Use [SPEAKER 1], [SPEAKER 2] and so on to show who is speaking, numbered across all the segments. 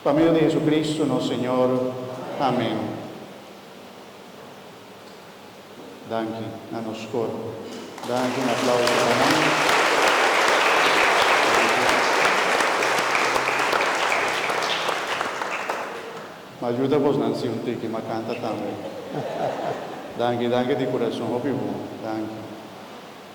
[SPEAKER 1] Pa medio di Jesucristo nos Señor. Amen. Danki na nos coro. Danki un aplauso pa nan. M'a juda bos nan si un tiki m'a canta tambe. Danki danki di curason hopi bon. Danki.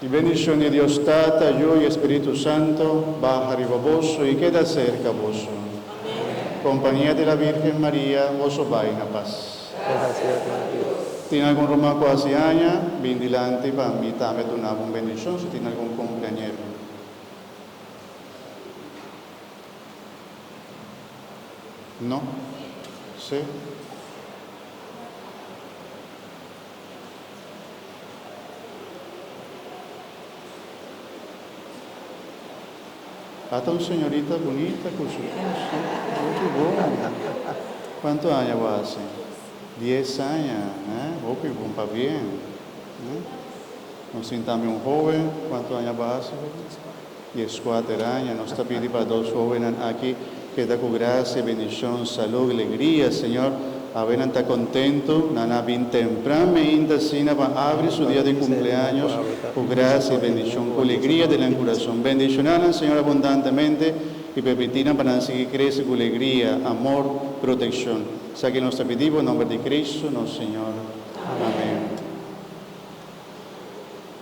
[SPEAKER 1] E bendicion di Dios Tata, Yu, i e Spiritu Santo baha riba boso i keda cerca boso. Compania di la Virgen Maria, boso bai na pas. Gracia di Dios. Tin algun ruman cu haci aña? Bin dilanti pa mi tambe duna bo un bendicion si tin algun cumpleañero. No? Si? Ata un señorita bunita cu su coso. Hopi bon. Cuanto aña bo haci? Diez aña. Eh, hopi bon pa bien. Eh. Nos tin tambe un hoben. Cuanto aña bo haci, hoben? di e skuater aña. Nos ta pidi pa dos hówennan aki keda ku grasia, bendishon, salú, glegria, Señor. Awe nan ta kontentu, nan a bin tempran meinta asina pa abri su dia di kumpleaños ku grasia i bendishon, ku legria den nan kurason. Bendishoná nan, Señor, abundantemente i permití nan pa nan sigui krese ku legria, amor, protekshon. Esaki nos ta pidi Bo nomber di Kristu nos Señor. Amén.